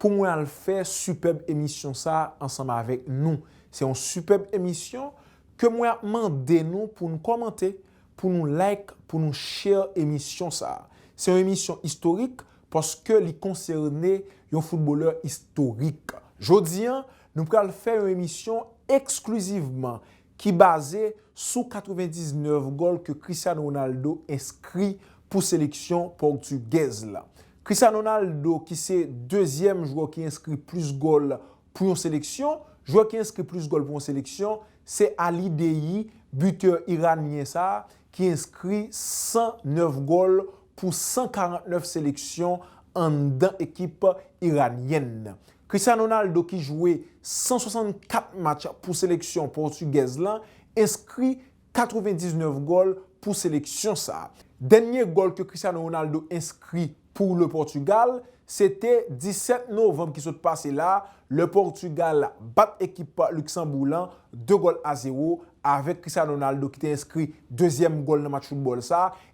pou mwen al fè sipèb emisyon sa ansanm avèk nou. Se yon sipèb emisyon ke mwen ap mande nou pou nou kòmante, pou nou like, pou nou share emisyon sa. Se yon emisyon istorik paske li konsène yon footballè istorik. Jodi an, nou pral fè yon emisyon eksklizivman ki baze sou 99 gòl ke Cristiano Ronaldo enskri pou seleksyon pòtugèz la. Cristiano Ronaldo ki se dezyèm jwè ki enskri plis gòl pou yon seleksyon. Jwè ki enskri plis gòl pou yon seleksyon se Ali Daei, bitè iranyen sa a ki enskri 109 gòl pou 149 seleksyon anndan ekip iranyèn nan. Cristiano Ronaldo ki jwe 164 match pou seleksyon pòtigèz lan enskri 99 gòl pou seleksyon sa. Dènye gòl ke Cristiano Ronaldo enskri pou le Portugal se te 17 novanb ki sot pase la lè Portugal bat ekip Luksanbourg lan 2 gòl a 0 avèk Cristiano Ronaldo ki te enskri dezyèm gòl nan match foutbòl sa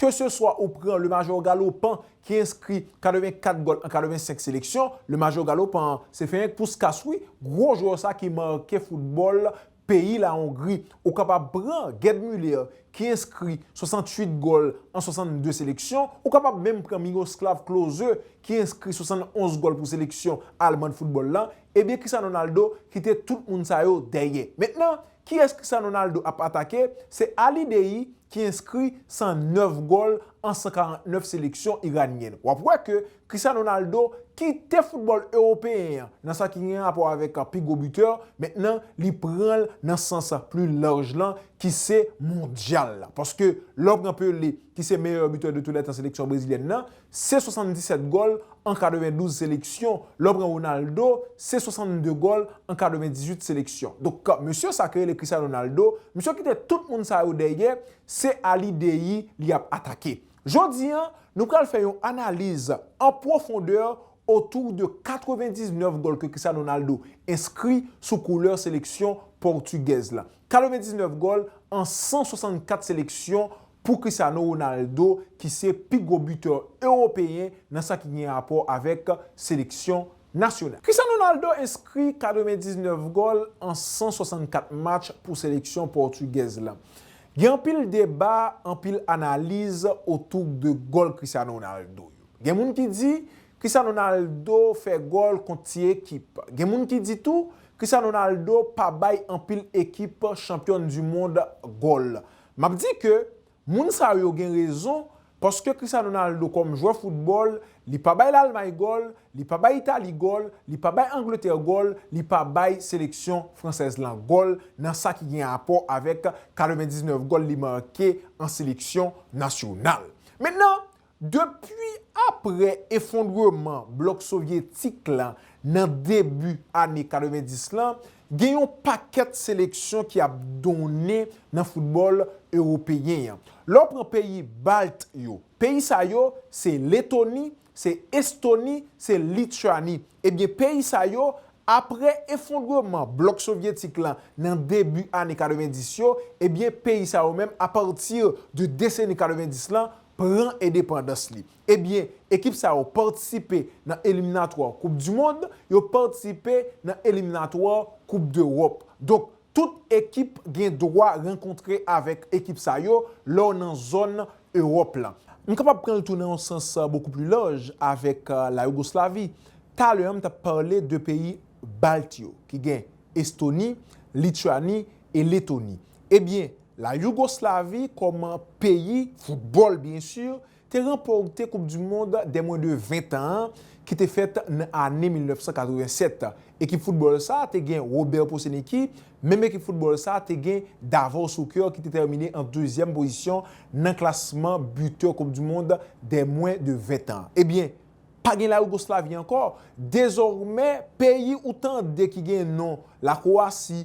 Ke se swa ou pran le majò galopan ki enskri 84 gòl an 85 seleksyon, le majò galopan an, se fenk Puskas wi, gwo jwè sa ki make foutbòl peyi la Ongri. Ou kapab pran Gerd Müller ki enskri 68 gòl an 62 seleksyon, ou kapab menm pran Miroslav Klose ki enskri 71 gòl pou seleksyon Alman foutbòl la, ebyen Cristiano Ronaldo kite tout moun sa yo dèyè. Mentnan, Kiyès Cristiano Ronaldo ap atake? Se Ali Daei ki enskri 109 gòl an 149 seleksyon iranyèn. W ap wè ke Cristiano Ronaldo kite foutbòl ewopeyen an nan sa ki gen rapò avèk pi gwo bitè, mentnan li pran l nan sans pli laj lan ki se mondyal la. Paske lè w pran Pelé ki se meyè bitè de tou lè tan seleksyon brezilyèn nan, se 77 gòl an 92 seleksyon, lè w pran Ronaldo se 62 gòl an 98 seleksyon. Donk mesye sa ki rele Cristiano Ronaldo, misye w kite tout moun sa yo dèyè, se Ali Daei li ap atake. Jodi an, nou pral fè yon analiz an pwofondè otou de 99 gòl ke Cristiano Ronaldo enskri sou koulè seleksyon pòtigèz la. 99 gòl an 164 seleksyon Pou Cristiano Ronaldo ki se pi gwo bitè ewopeyen nan sa ki gen rapò avèk seleksyon nasyonal. Cristiano Ronaldo enskri 99 gòl an 164 match pou seleksyon pòtugèz la. Gen anpil deba, anpil analiz otouk de gòl Cristiano Ronaldo yo. Gen moun ki di Cristiano Ronaldo fè gòl kont ti ekip. Gen moun ki di tou Cristiano Ronaldo pa bay anpil ekip chanpyòn di mond gòl. Map di ke moun sa yo gen rezon paske Cristiano Ronaldo kòm jwè foutbòl li pa bay Lalmay gòl, li pa bay Itali gòl, li pa bay Angletè gòl, li pa bay seleksyon fransèz lan gòl nan sa ki gen rapò avèk 99 gòl li make an seleksyon nasyonal. Mentnan, Depi apre efondreman blòk sovyetik la nan debi ane 90 la, gen yon pakèt seleksyon ki ap donnen nan foutbòl ewopeyen an. Lè w pran peyi balt yo, peyi sa yo se Letoni, se Estoni, se Lityani, ebyen peyi sa yo apre efondreman blòk sovyetik la nan debi ane 90 yo, ebyen peyi sa yo menm apati de deseni 90 la pran endepandans li. Ebyen, ekip sa yo patisipe nan eliminatwa koup du mond, yo patisipe nan eliminatwa koup dEròp. Donk, tout ekip gen dwa rankontre avèk ekip sa yo lè w nan zòn Eròp la. M kapab pran l tou nan yon sans bokou pli laj avèk la Yougoslavi. Talè an m t ap pale de peyi balt yo ki gen Estoni, Lityani e Letoni. Ebyen, La Yougoslavi kòm peyi, foutbòl byen si, te ranpòte koup di mond dè mwen de 20 tan an ki te fèt nan ane 1987. Ekip foutbòl sa te gen Robert Poseniki, menm ekip foutbòl sa te gen Davor Suker ki te tèmine an dezyèm pozisyon nan klasman butè koup di mond dè mwen de 20 tan an. Ebyen, pa gen La Yougoslavi ankò, dezòmè peyi ou tande ki gen non La Kowasi,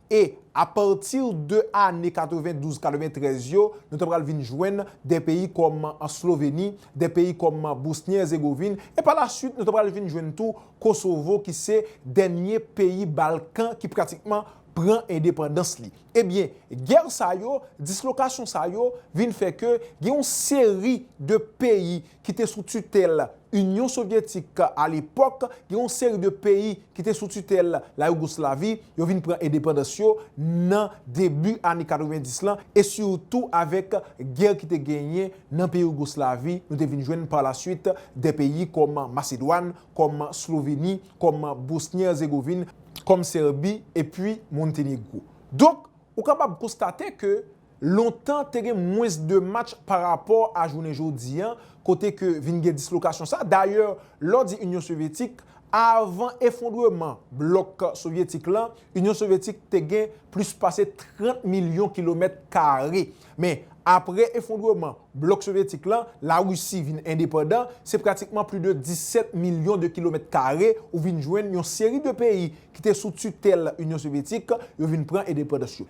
E, apati de ane 92, 93 yo, nou ta pral vin jwenn de peyi kòm Sloveni, de peyi kòm Bosni-Erzegovin, e pa la suit nou ta pral vin jwenn tou Kosovo ki se dènye peyi Balkan ki pratikman pran endepandans li. E byen, gè sa yo, dislokasyon sa yo vin fè ke gen yon seri de peyi ki te sou titèl Inyon Sovyetik alepòk, gen yon seri de peyi ki te sou titèl la Yougoslavi, yo vin pran endepandans yo nan debi ane 90 lan e sitou avèk gè ki te genyen nan peyi Yougoslavi, nou te vin jwenn palasuit de peyi kòm Masedwàn, kòm Sloveni, kòm Bosni-Erzegovin, kòm Sèbi epi Montenegro. Donk, ou kapab konstate ke Lontan te gen mwens de match pa rapò a jounen jodi a kote ke vin gen dislokasyon sa. Dayè, lè w di Inyon Sovyetik, avan efondreman blòk sovyetik lan, Inyon Sovyetik te gen plis pase 30 milyon kilomèt kare. Men, apre efondreman blòk sovyetik lan, Larisi vin endepandan, se pratikman pli de 17 milyon de kilomèt kare ou vin jwenn yon seri de peyi ki te sou titèl Inyon Sovyetik yo vin pran endepandans yo.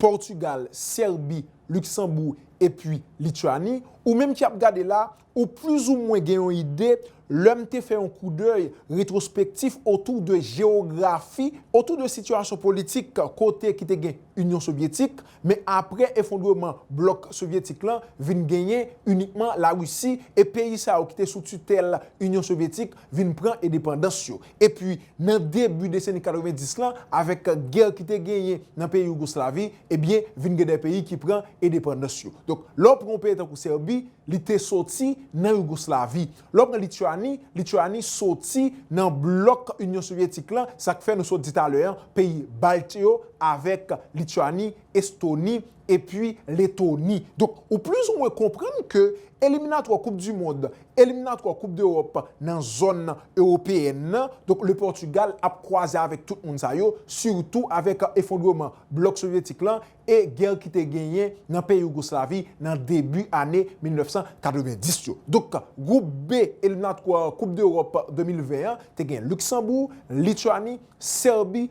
Portugal, Serbie, Luxembourg epi Lituanie, ou menm ki ap gade la, ou plis ou mwen gen yon ide lè m te fè yon koudèy retrospektif otou de jewografi, otou de sitiyasyon politik kote ki te gen Inyon Sovyetik, men apre efondreman blòk Sovyetik lan vin genyen inikman Larisi e peyi sa yo ki te sou titèl Inyon Sovyetik vin pran edepandans yo. Epi nan debi deseni 90 lan, avèk gè ki te genyen nan peyi Yougoslavi, ebyen vin gen de peyi ki pran endepandans yo. Donk, lè w pran yon peyi tankou Sèbi, li te soti nan Yougoslavi. Lè w pran Lityani, Lityani soti nan blòk Inyon Sovyetik lan, sa k fè nou sot di talè an, peyi Balt yo avèk Lityani, Estoni, epi Letoni. Donk, ou plis ou mwen konprann ke eliminatwa koup di mond, eliminatwa koup dEròp nan zòn ewopeyèn nan, donk Le Pòtigal ap kwaze avèk tout moun sa yo, sitou avèk efondreman blòk sovyetik lan e gè ki te genyen nan peyi Yougoslavi nan debi ane 1990 yo. Donk, gwoup B eliminatwa koup dEròp 2020 an te gen Luksanbour, Lityani, Sèbi,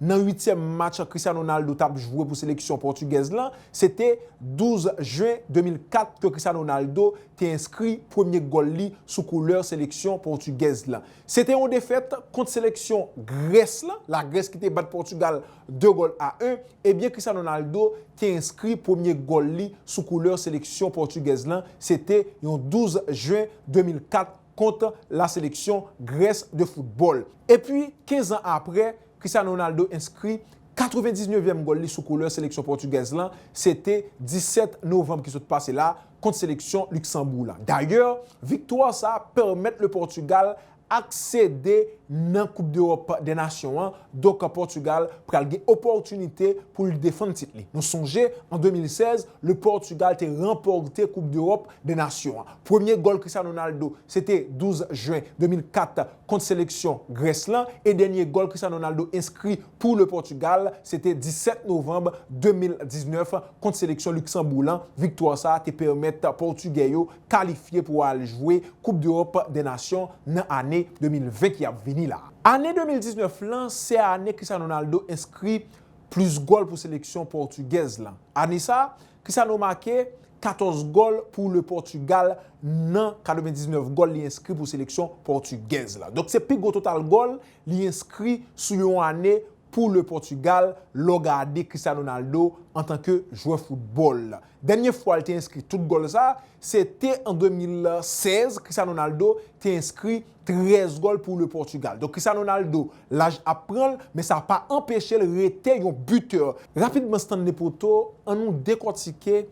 Nan uityèm match Cristiano Ronaldo t ap jwe pou seleksyon pòtigèz lan, se te 12 jen 2004 ke Cristiano Ronaldo te enskri premye gòl li sou koulè seleksyon pòtigèz lan. Se te yon defèt kont seleksyon Grès lan, Lagrès ki te bat Pòtigal 2 gòl a 1, ebyen Cristiano Ronaldo te enskri premye gòl li sou koulè seleksyon pòtigèz lan, se te yon 12 jen 2004. kont la seleksyon Grès de foutbòl. Epi, 15 an aprè, Cristiano Ronaldo enskri 99 vyèm gòl li sou koulè seleksyon pòtigèz lan, se te 17 novanm ki sot pase la, kont seleksyon Luksanbourg lan. Dayè, viktwa sa pèmèt le Pòtugal aksede nan koup dEròp dè nasyon an, donk Pòtugal pral gen opòtinite pou l defann tit li. Nou sonje, an 2016, le Pòtugal te ranpòte koup dEròp de nasyon an. Premye gòl Cristiano Ronaldo se te 12 jen 2004 kont seleksyon Grès lan e dènye gòl Cristiano Ronaldo enskri pou Le Portugal se te 17 novanm 2019 kont seleksyon Luksanbour lan. Viktwa sa te pèmèt Pòtugè yo kalifye pou al jwe Koup Dewòp dè Nasyon nan ane 2020 ki ap vini la. Ane 2019 lan se ane Cristiano Ronaldo enskri plis gòl pou seleksyon pòtugèz lan. Ane sa, Kisa nou make? 14 gòl pou Le Portugal nan 99 gòl li enskri pou seleksyon pòtigèz la. Donk se pi gwo total gòl li enskri sou yon ane pou Le Portugal lè w gade Cristiano Ronaldo antanke jwè foutbòl. Dènye fwa l te enskri tout gòl sa, se te an 2016 Cristiano Ronaldo te enskri 13 gòl pou Le Portugal. Donk Cristiano Ronaldo Laj ap pran l, men sa pa anpeche l rete yon buteur. Rapidman Stanley Poto, an nou dekòtike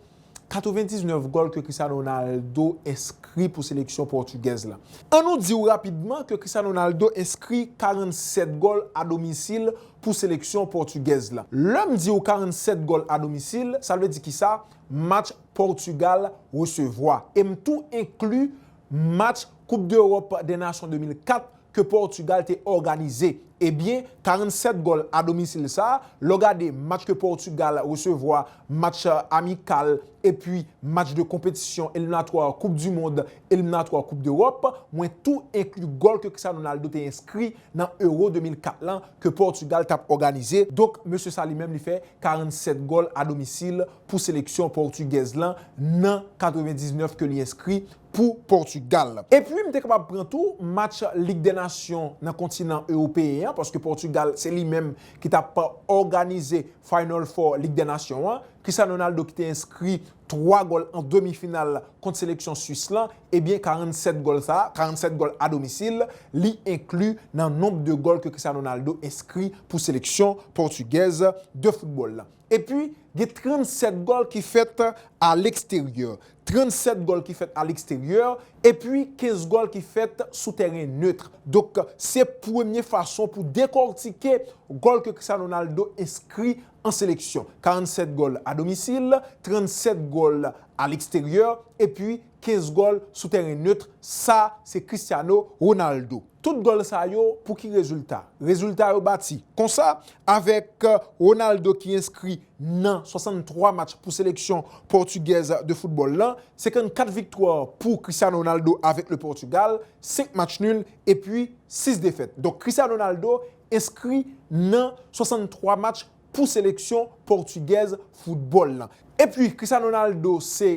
99 gòl ke Cristiano Ronaldo enskri pou seleksyon pòtugèz la. An nou di w rapidman ke Cristiano Ronaldo enskri 47 gòl a domisil pou seleksyon pòtugèz la. Lè m di w 47 gòl a domisil, sa vle di kisa? Match Pòtugal resevwa. E m tou enkli match Coupe d'Europe des Nations 2004 ke Portugal te òganize. Ebyen 47 gòl a domisil sa, lè w gade match ke Portugal resevwa, match amikal epi match de konpetisyon eliminatwa koup du mond, eliminatwa koup dEròp, mwen tou enkli gòl ke Cristiano Ronaldo te enskri nan Euro 2004 lan ke Portugal tap òganize. Donk mesye sa li menm li fè 47 gòl a domisil pou seleksyon portugèz lan nan 99 ke li enskri pou Pòtugal. Epi m te kapab pran tou match Lig dè Nasyon nan kontinan ewopeyen an paske Pòtugal se li menm ki t ap òganize Final Four Lig dè Nasyon an. Cristiano Ronaldo ki te enskri 3 gòl an demi final kont seleksyon Swis lan, ebyen 47 gòl sa, 47 gòl a domisil, li enkli nan nonb de gòl ke Cristiano Ronaldo enskri pou seleksyon pòtigèz de foutbòl lan. Epi, gen 37 gòl ki fèt aleksteryè. 37 gòl ki fèt aleksteryè, epi 15 gòl ki fèt sou tèren neutre. Donk, se premye fason pou dekòrtike gòl ke Cristiano Ronaldo enskri an seleksyon. 47 gòl a domisil, 37 gòl aleksteryè, epi 15 gòl sou tèren neutre, sa se Cristiano Ronaldo. Tout gòl sa yo pou ki rezilta? Rezilta yo bati. Konsa, avèk Ronaldo ki enskri nan 63 match pou seleksyon pòtigèz de foutbòl lan, 54 viktwa pou Cristiano Ronaldo avèk le Portugal, 5 match nul epi 6 defèt. Donk Cristiano Ronaldo enskri nan 63 match pou seleksyon pòtigèz foutbòl lan. Epi Cristiano Ronaldo se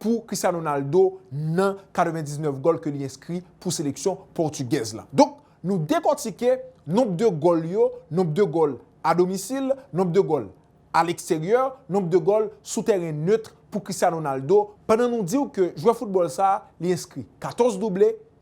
pou Cristiano Ronaldo nan 99 gòl ke li enskri pou seleksyon pòtigèz la. Donk, nou dekòtike nonb de gòl yo, nonb de gòl a domisil, nonb de gòl a leksteryè, nonb de gòl sou tèren neutre pou Cristiano Ronaldo, pandan nou di w ke jwè foutbòl sa a li enskri 14 double,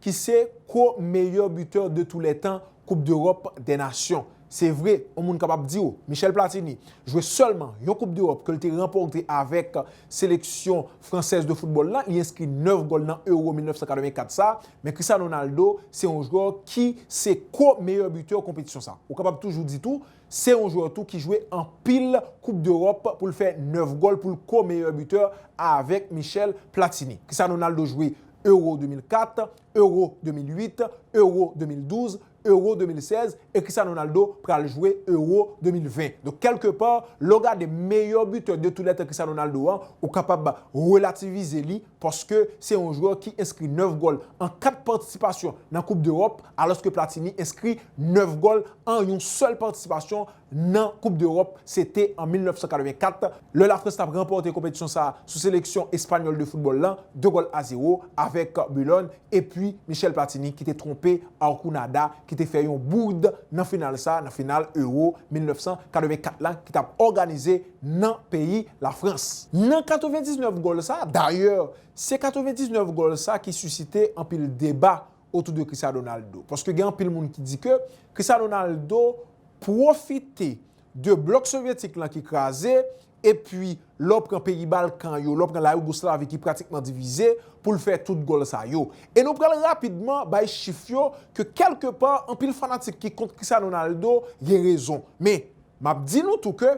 ki se ko meyè butè de tou lè tan koup dEròp dè nasyon. Se vre, on moun kapab di w, Michel Platini, jwe sèlman yon koup dEròp ke l te ranpòte avèk seleksyon fransèz de foutbòl la, li enskri 9 gòl nan Euro 1984 sa, men Cristiano Ronaldo se yon jwè ki se ko meyè butè konpetisyon sa. Ou kapab toujou di tou, se yon jwè tou ki jwe anpil koup dEròp pou l fè 9 gòl pou l ko meyè butè avèk Michel Platini. Cristiano Ronaldo jwe Euro 2004, Euro 2008, Euro 2012, Euro 2016 e Cristiano Ronaldo pral jwe Euro 2020. Donk kèlke pa, lè w gade meyè bitè de tou lè tan Cristiano Ronaldo an, ou kapab relativize li paske se yon jwè ki enskri 9 gòl an 4 patisipasyon nan koup dEròp alòske Platini enskri 9 gòl an yon sèl patisipasyon nan koup dEròp, se te an 1984, lè Lafrans t ap ranpòte konpetisyon sa sou seleksyon espanyòl de foutbòl lan, 2 gòl a zewo, avèk Boulogne, epi Michel Platini ki te twonpe Arconada ki te fè yon bourd nan final sa, nan final Euro 1984 lan ki t ap òganize nan peyi Lafrans. Nan 99 gòl sa, dayè, se 99 gòl sa ki sisite anpil deba otou de Cristiano Ronaldo. Paske gen anpil moun ki di ke Cristiano Ronaldo pwofite de blòk sovyetik lan ki kraze, epi lè w pran peyi Balkan yo, lè w pran la Yougoslavie ki pratikman divize, pou l fè tout gòl sa yo. E nou pral rapidman bay chif yo ke kèlke pa anpil fanatik ki kont Cristiano Ronaldo gen rezon. Men, m ap di nou tou ke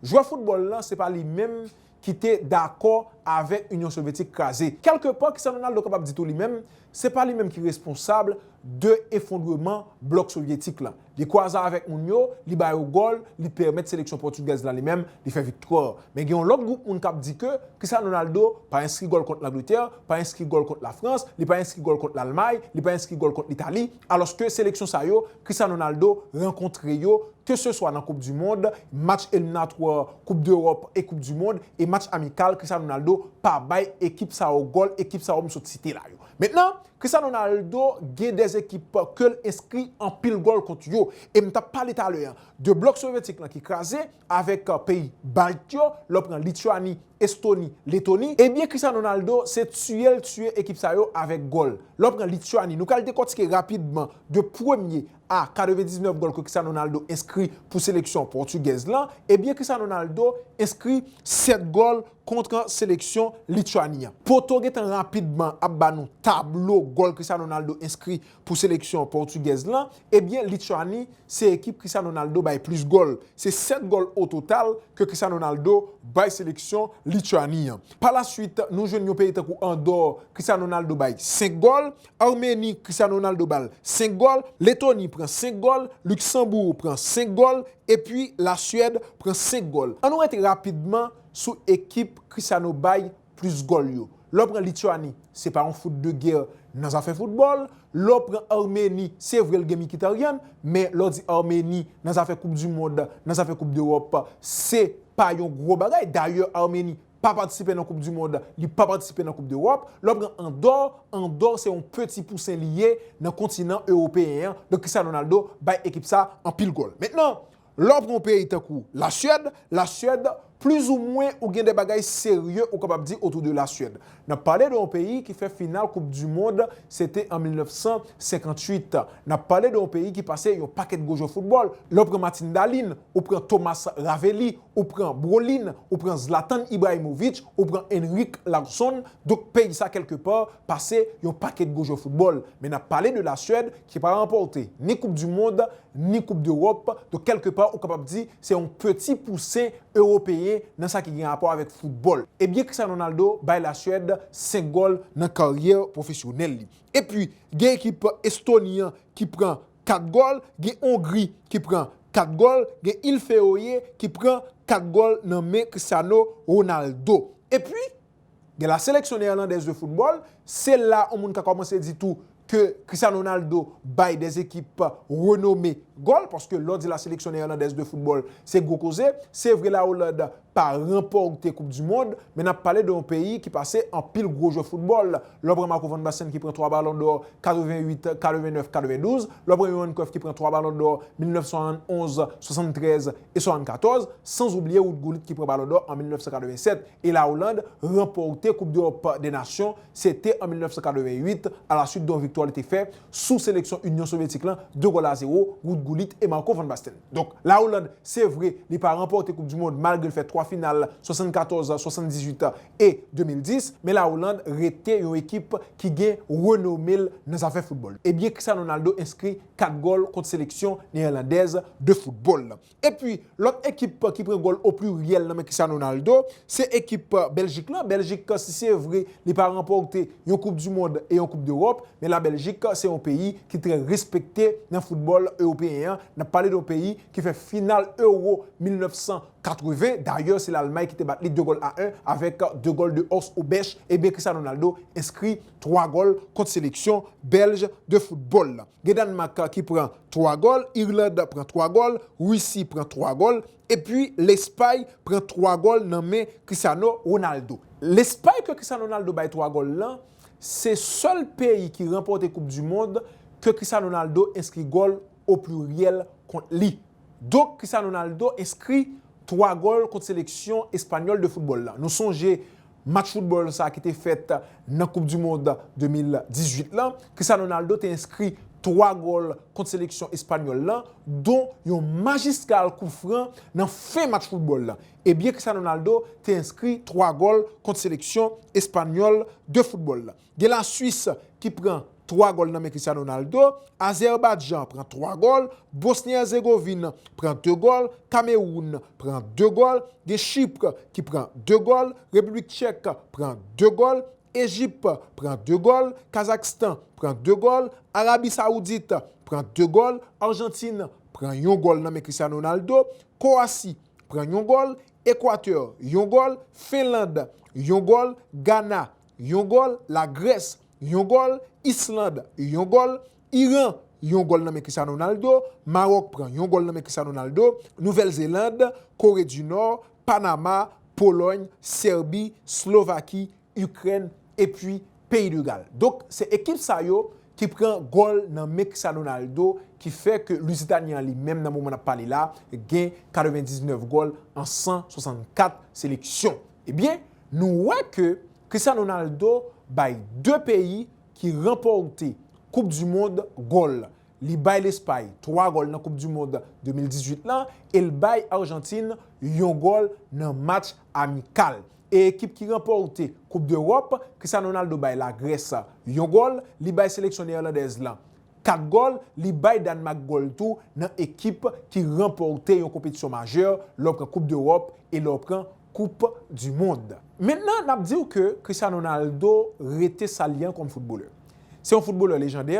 Jwè foutbòl lan se pa li menm ki te dakò avè Inyon Sovyetik kraze. Kèlke pa, kisa Ronaldo kapab di tou li menm, se pa li menm ki responsab de efondreman blòk sovyetik lan. Li kwaze avèk moun yo, li ba yo gòl, li pèmèt seleksyon pòtigèz la li menm li fè viktwa. Men gen yon lòt gwoup moun kap di ke kisa Ronaldo pa enskri gòl kont Langletè, pa enskri gòl kont Lafrans, li pa enskri gòl kont Lalmay, li pa enskri gòl kont Litali. Alòske seleksyon sa yo, Cristiano Ronaldo, rankontre yo, keseswa nan koup du mond, match eliminatwa koup dEròp e koup du mond, e match amikal, Cristiano Ronaldo pa bay ekip sa yo gòl, ekip sa yo m sot site la yo. Mentnan, Cristiano Ronaldo gen 2 ekip ke l enskri anpil gòl kont yo, e m t ap pale talè an de blòk sovyetik lan ki kraze, avèk peyi balt yo, lè w pran Lityani, Estoni, Letoni, ebyen Cristiano Ronaldo se tiye l tiye ekip sa yo avèk gòl. Lè w pran Lityani, nou pral dekòtike rapidman de premye a 99 gòl ke Cristiano Ronaldo enskri pou seleksyon pòtigèz lan, ebyen Cristiano Ronaldo enskri 7 gòl kontr seleksyon Lityani an. Poto gentan rapidman ap ba nou tablo gòl Cristiano Ronaldo enskri Pou seleksyon pòtigèz lan, ebyen Lityani se ekip Cristiano Ronaldo bay plis gòl. Se 7 gòl o total ke Cristiano Ronaldo bay seleksyon Lityani an. Pa la swit, nou jwenn yon peyi tankou Andò, Cristiano Ronaldo bay 5 gòl, Armeni, Cristiano Ronaldo ba l 5 gòl, Letoni pran 5 gòl, Luksanbourg pran 5 gòl, epi Lasyèd pran 5 gòl. An nou rete rapidman sou ekip Cristiano bay plis gòl yo. Lè w pran Lituani, se pa yon fout de gè nan zafè foutbòl. Lè w pran Armeni, se vre l gen Mikitaryan, men lè w di Armeni nan zafè koup di mond, nan zafè koup dewòp, se pa yon gwo bagay. Dayè Armeni pa patisipe nan koup di mond, li pa patisipe nan koup dewòp. Lè w pran Andò, Andò se yon peti pousen li ye nan kontinan ewopeyen an. Donk Cristiano Ronaldo bay ekip sa anpil gòl. Mentnan, Lè w pran yon peyi tankou Lasuèd, la Suède, plizoumwen ou gen de bagay serye ou kapab di otou de la Suède. N ap pale de yon peyi ki fè final koup di mond, se te an 1958. N ap pale de yon peyi ki pase yon pakèt gwo jwè foutbòl. Lè w pran Matin Dalin, ou pran Thomas Ravelli, ou pran Brolin, ou pran Zlatan Ibrahimovic, ou pran Henrik Larsson, donk peyi sa kèlke pa pase yon pakèt gwo jwè foutbòl. Men n ap pale de la Suède ki pa ranpòte ni koup di mond, ni koup dEròp, donk kèlke pa ou kapab di se yon peti pousen eropeyen nan sa ki gen rapò avèk foutbòl. E byen Cristiano Ronaldo bay la Suède 5 gòl nan karyè pwofesyonèl li. E pi gen ekip Estoni an ki pran 4 gòl, gen Hongri ki pran 4 gòl, gen Il Feoe ki pran 4 gòl nan men Cristiano Ronaldo. E pi Gen la seleksyon neerlandèz de football, se la yon moun ka kòmanse di tou ke Cristiano Ronaldo bay des ekip renome gòl, paske lè w di la seleksyon neerlandèz de football, se gwo koze. Se vre la Hollande pa ranpòte koup du mond, men nap pale de yon peyi ki pase anpil gwo jwè football. Lè w pran Marco van Basten ki pran 3 balon dò 88, 89, 92, lè w pran Johan Cruyff ki pran 3 balon dò 1971, 73 e 74, san oubliye Ruud Gullit ki pran balon dò an 1987. e La Oland ranpòte koup dEròp dè Nasyon se te an 1988 a la swit don viktwa li te fè sou seleksyon Inyon Sovyetik lan 2 gòl a 0, Ruud Gullit e Marco van Basten. Donk La Oland se vre li pa ranpòte koup du mond malgre l fè 3 final 74, 78 e 2010 men La Oland rete yon ekip ki gen renome l nan zafè foutbòl. Ebyen Cristiano Ronaldo enskri 4 gòl kont seleksyon Neerlandèz de foutbòl lan. Epi lòt ekip ki pran gòl o pliryèl nan men Cristiano Ronaldo, se ekip Bèljik lan. Bèljik si se vre li pa ranpòte yon koup di mond e yon koup dEròp, men la Bèljik se yon peyi ki trè respekte nan foutbòl ewopeyen an. N ap pale de yon peyi ki fè final Euro 1980, dayè se Lalmay ki te bat li 2 gòl a 1 avèk 2 gòl de Horst Hrubesch, ebyen Cristiano Ronaldo enskri 3 gòl kont seleksyon Bèlj de foutbòl. Gen Dànmak ki pran 3 gòl, Irland pran 3 gòl, Russie pran 3 gòl, epi Lespay pran 3 gòl nan men Cristiano Ronaldo. Lespay ke Cristiano Ronaldo bay 3 gòl lan, se sèl peyi ki ranpòte koup du mond ke Cristiano Ronaldo enskri gòl o pliryèl kont li. Donk Cristiano Ronaldo enskri 3 gòl kont seleksyon espanyòl de foutbòl lan. Nou sonje Match foutbòl sa ki te fèt nan koup du mond 2018 lan, Cristiano Ronaldo te enskri 3 gòl kont seleksyon espanyòl lan, don yon majistral kout fran nan fen match foutbòl lan. Ebyen Cristiano Ronaldo te enskri 3 gòl kont seleksyon espanyòl de foutbòl lan. Gen la Suisse ki pran 3 gòl nan men Cristiano Ronaldo, Azerbajan pran 3 gòl, Bosni Erzegovin pran 2 gòl, Kameroun pran 2 gòl, gen Chypre ki pran 2 gòl, Repiblik Tchèk pran 2 gòl, Ejip pran 2 gòl, Kazakstan pran 2 gòl, Arabi Saoudit pran 2 gòl, Arjantin pran yon gòl nan men Cristiano Ronaldo, Kowasi pran yon gòl, Ekwatè yon gòl, Fenland yon gòl, Gana yon gòl, La Grès, yon gòl, Island, yon gòl, Iran, yon gòl nan men Cristiano Ronaldo, Maròk pran yon gòl nan men Cristiano Ronaldo, Nouvèl Zeland, Kore di Nò, Panama, Polòny, Sèbi, Slovaki, Ikrèn epi Peyi de Gal. Donk se ekip sa yo ki pran gòl nan men Cristiano Ronaldo ki fè ke Lizitanyen an li menm nan moman n ap pale la gen 99 gòl an 164 seleksyon. Ebyen nou wè ke Cristiano Ronaldo bay 2 peyi ki ranpòte koup du mond gòl. Li bay Lespay 3 gòl nan koup du mond 2018 lan e l bay Arjantin yon gòl nan match amikal. E ekip ki ranpòte koup dEròp, Cristiano Ronaldo bay Lagrès yon gòl, li bay seleksyon Neerlandèz lan 4 gòl, li bay Dànmak gòl tou nan ekip ki ranpòte yon konpetisyon majè lè w pran koup dEròp e lè w pran koup du mond. Mentnan nap diw ke Cristiano Ronaldo rete sa li an kom footbalè. Se yon footbalè lejandè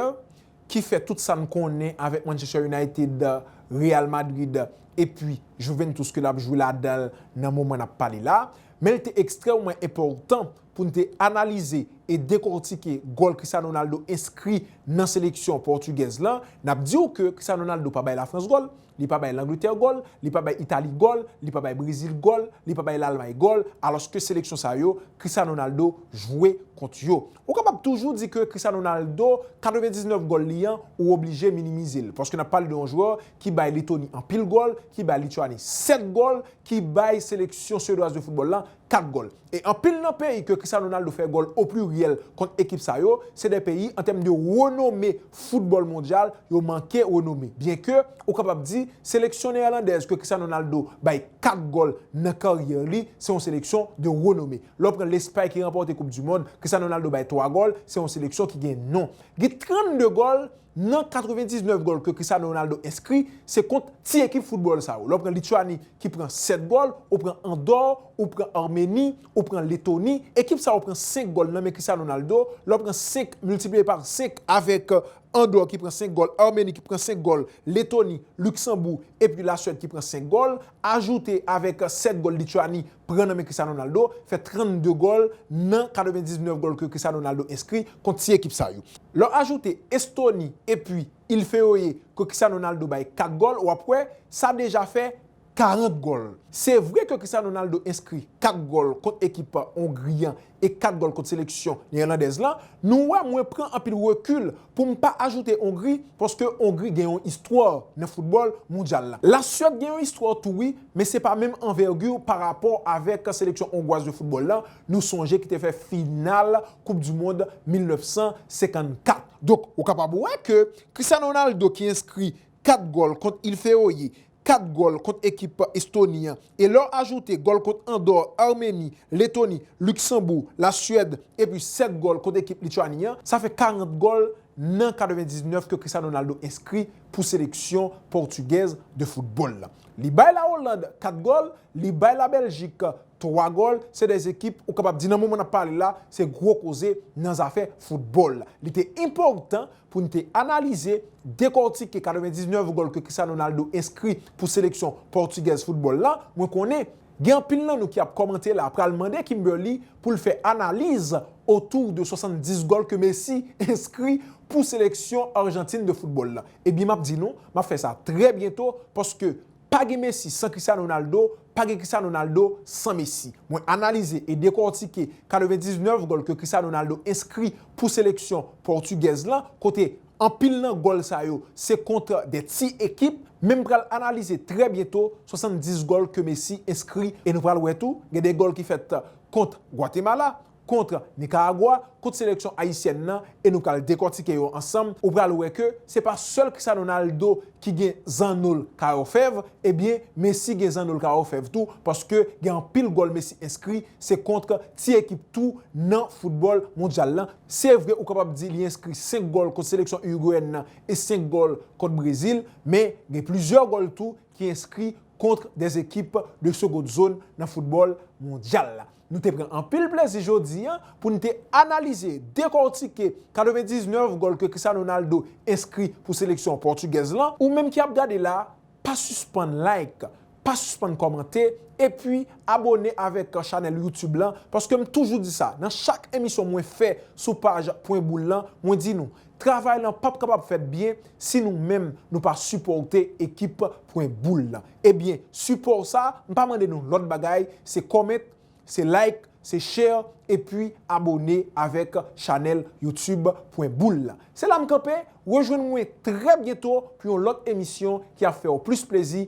ki fè tout sa n konnen avek Manchester United, Real Madrid epi Juventus ke lap jwe ladan l nan moman nap pale la. Men li te ekstrèmman enpòtan pou n te analize e dekortike gòl Cristiano Ronaldo enskri nan seleksyon pòtigèz lan. Nap diw ke Cristiano Ronaldo pa bay Lafrans gòl. Li pa bay Langletè gòl, li pa bay Itali gòl, li pa bay Brezil gòl, li pa bay Lalmay gòl, alòske seleksyon sa yo, Cristiano Ronaldo jwe kont yo. Ou kapab toujou di ke Cristiano Ronaldo, 99 gòl li an, ou oblije minimize l, paske n ap pale de yon jwè ki bay Letoni anpil gòl, ki bay Lityani 7 gòl, ki bay seleksyon Swedwaz de foutbòl lan 4 gòl. E anpil nan peyi ke Cristiano Ronaldo fè gòl o pliryèl kont ekip sa yo, se de peyi an tèm de renome foutbòl mondyal yo manke renome. Byen ke ou kapab di seleksyon neèlandèz ke Cristiano Ronaldo bay 4 gòl nan karyè li, se yon seleksyon de renome. Lè w pran Lespay ki ranpòte koup di mond, Cristiano Ronaldo bay 3 gòl, se yon seleksyon ki gen non. Gen 32 gòl Nan 99 gòl ke Cristiano Ronaldo enskri, se kont ti ekip foutbòl sa yo. Lè w pran Lituani ki pran 7 gòl, ou pran Andò, ou pran Armeni, ou pran Letoni, ekip sa yo pran 5 gòl nan men Cristiano Ronaldo, lè w pran 5 miltipliye par 5 avèk Andò ki pran 5 gòl, Armeni ki pran 5 gòl, Letoni, Luksanbou epi Lasuèd ki pran 5 gòl, ajoute avèk 7 gòl Lituani pran nan men Cristiano Ronaldo, fè 32 gòl nan 99 gòl ke Cristiano Ronaldo enskri kont ti ekip sa yo. Lè w ajoute Estoni epi Il Feoe ke Cristiano Ronaldo bay 4 gòl, w ap wè sa deja fè 40 gòl. Se vre ke Cristiano Ronaldo enskri 4 gòl kont ekip Ongri an e 4 gòl kont seleksyon neyelandèz lan, nou wè mwen pran anpil rekil pou m pa ajoute Ongri paske Ongri gen yon istwa nan foutbòl mondyal la. Lasuèd gen yon istwa tou wi, men se pa menm anvègi parapò avèk seleksyon ongwaz de foutbòl lan, nou sonje ki te fè final koup di mond 1954. Donk ou kapab wè ke Cristiano Ronaldo ki enskri 4 gòl kont Il Feoye, 4 gòl kont ekip Estoni an, e lè w ajoute gòl kont Andò, Armeni, Letoni, Luksanboug, La Suèd, epi 7 gòl kont ekip Lituani an, sa fè 40 gòl nan 99 ke Cristiano Ronaldo enskri pou seleksyon Pòtugèz de foutbòl la. Li bay La Oland 4 gòl, li bay La Bèljik 3 gòl, se 2 ekip ou kapab di nan moman n ap pale la se gwo koze nan zafè foutbòl la. Li te enpòtan pou n te analize, dekòtike 99 gòl ke Cristiano Ronaldo enskri pou seleksyon pòtigèz foutbòl la, mwen konnen gen anpil nan nou ki ap kòmante la pral mande Kimberly pou l fè analiz otou de 70 gòl ke Messi enskri pou seleksyon Argentine de foutbòl la. Ebyen m ap di nou, m ap fè sa trè byento paske Pa gen Messi san Cristiano Ronaldo, pa gen Cristiano Ronaldo san Messi. Mwen analize e dekòtike 99 gòl ke Cristiano Ronaldo enskri pou seleksyon pòtigèz lan, kote anpil nan gòl sa yo se kont de ti ekip, men m pral analize trè byento 70 gòl ke Messi enskri e nou pral wè tou gen de gòl ki fèt kont Guatemala, kontre Nicaragua kont seleksyon ayisyèn nan e nou pral dekòtike yo ansanm ou pral wè ke se pa sèl Cristiano Ronaldo ki gen zannol kayo fèv ebyen Messi gen zannol kayo fèv tou paske gen anpil gòl Messi enskri se kontre ti ekip tou nan foutbòl mondyal lan se vre ou kapab di li enskri 5 gòl kont seleksyon Urugweyèn nan e 5 gòl kont Brezil men gen plizyè gòl tou ki enskri kontre des ekip de segond zone nan foutbòl mondyal la. Nou te pran anpil plezi jodi an pou n te analize, dekòtike 99 gòl ke Cristiano Ronaldo enskri pou seleksyon pòtigèz lan. Ou menm ki ap gade la, pa sispann like, pa sispann kòmante, epi abone avèk chanèl YouTube lan, paske m toujou di sa, nan chak emisyon mwen fè sou paj Pwen Boul lan, mwen di nou, travay lan p ap kapab fèt byen si nou menm nou pa sipòte ekip Pwen Boul lan. Ebyen support sa m pa mande nou lòt bagay se comment se like se share epi abone avèk chanèl YouTube pwen boul la. Se la m kanpe, rejwenn mwen trè byento pou yon lòt emisyon ki ap fèw plis plezi.